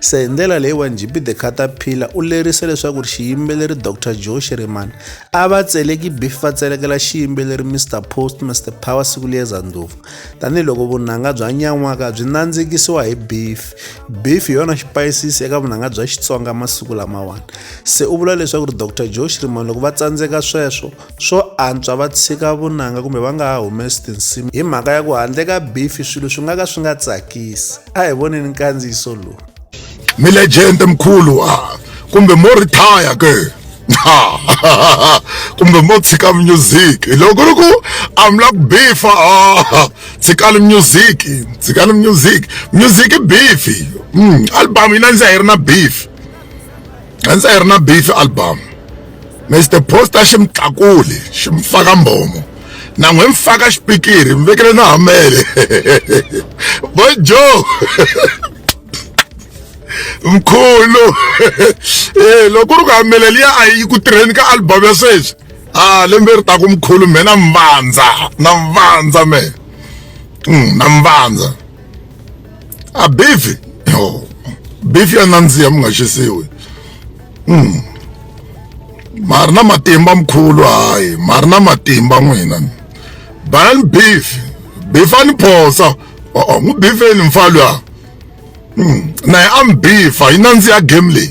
Se hi ndlela leyiwani JB the Caterpillar u lerise leswaku xiyimbeleri Dr Joe Shiriman a va tseleki beef va tselekela xiyimbeleri Mr Post Mr Power Sikuliyeza Ndlovu tanihiloko vunanga bya nyan'waka byi nandzikisiwa hi beef beef hi yona xipayisisi eka vunanga bya Xitsonga masiku lamawani se u vula leswaku Dr Joe Shiriman loko va tsandzeka sweswo swo antswa va tshika vunanga kumbe va nga ha humesi tinsimu hi mhaka ya ku handle ka bifi swilo swi nga ka swi nga tsakisi a hi voneni nkandziyiso lowu milegende mkhulu a kumbe mo ritaya ke kumbe mo tshika music loko ri ku a mi la ku bifa tshikani music tshikani music music i bifi mm, album yi na ndzi a yi ri na bifi Gentsa yi ri na beef album Mr Poster xi mi tlakuli xi mi faka mbomo na n'wi mi faka xipikiri mi vekele na hamele boy Joe mkhulu eh loko ri ku hamele liya a yi ku tirheni ka album ya sweswi ah lembe ri ta ku mkhulu mina mvandza na mvandza me na mvandza a beef yo beef ya nandziha mi nga xisiwi mm. ma ri na matimba mkhulu hayi ma ri na matimba n'wina banani beef beef a ni phosa o-o n'wi bifeni mfa luya mm. naye a mi bifa yi nandziha game leyi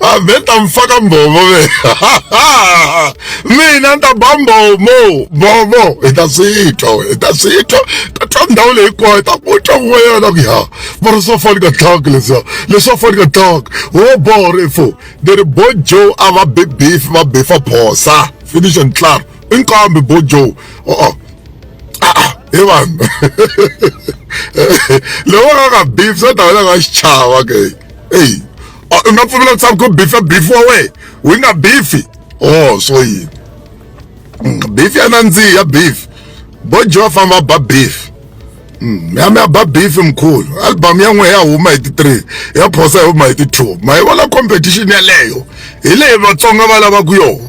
aveta mfaka mbhovo ve mina ni ta ba mbomo mbomo hi ta swi twa hi ta swi twa ta twa ndhawu leyi kwayo hi ta ku twa ku wena ku ya va ri swa fani ka tlhaka leswiya leswa fani ka tlhaka wo boho ri fo ni ri bo joe a va bi beef va befa phosa finish and clar i nkambi bo joe o-o hi vanhu loko va nga nga beef swa ta wena nga xichava ke eyi u nga pfumela ku tshama ku bifa bifi wa wena wi nga bifi oh swo yini mm, bifi ya nandziha bifi bo joe famba ba bifi mm, ya mi ya ba bifi mkhulu album ya n'we ya huma hi ti-three ya phosa ya huma hi ti-two ma yi vona competition yeleyo hi leyi vatsonga va lavaku yona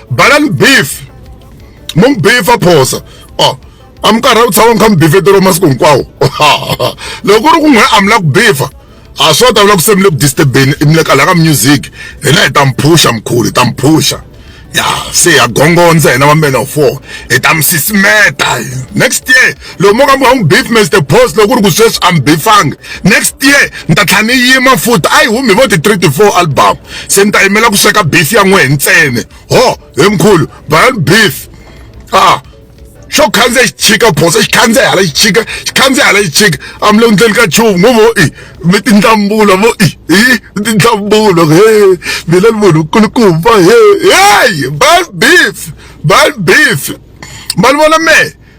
bala ni beef mo n'wi beefa phosa o a mi karhi u tshama mi kha mi beefetelo masiku hinkwawo loko ku ri ku n'we a mi la ku beefa a swo ta vula ku se mi le ku disturbeni mi le kala ka music hina hi ta mi phusha mkhulu hi ta mi phusha ya se ya gongondza hina va mena four hi ta mi sisimeta next year loko mo ka mi nga n'wi beef mr boss loko ku ri ku sweswi a mi bifanga next year ni ta tlhela ni yima futi a yi humi vo ti-three ti-four album se ni ta yimela ku sweka beef ya n'wehe ntsene ho he mkhulu bayan beef ah xo khandziya xi chika bosa xi khandziya hala xi chika xi khandziya hala xi chika a mi le ku ndleni ka chuvu ngo vo i mi tindlambulo vo i i mi tindlambulo he mina ni munhu nkulukumba he heyi bal beef bal beef ma ni vona mehe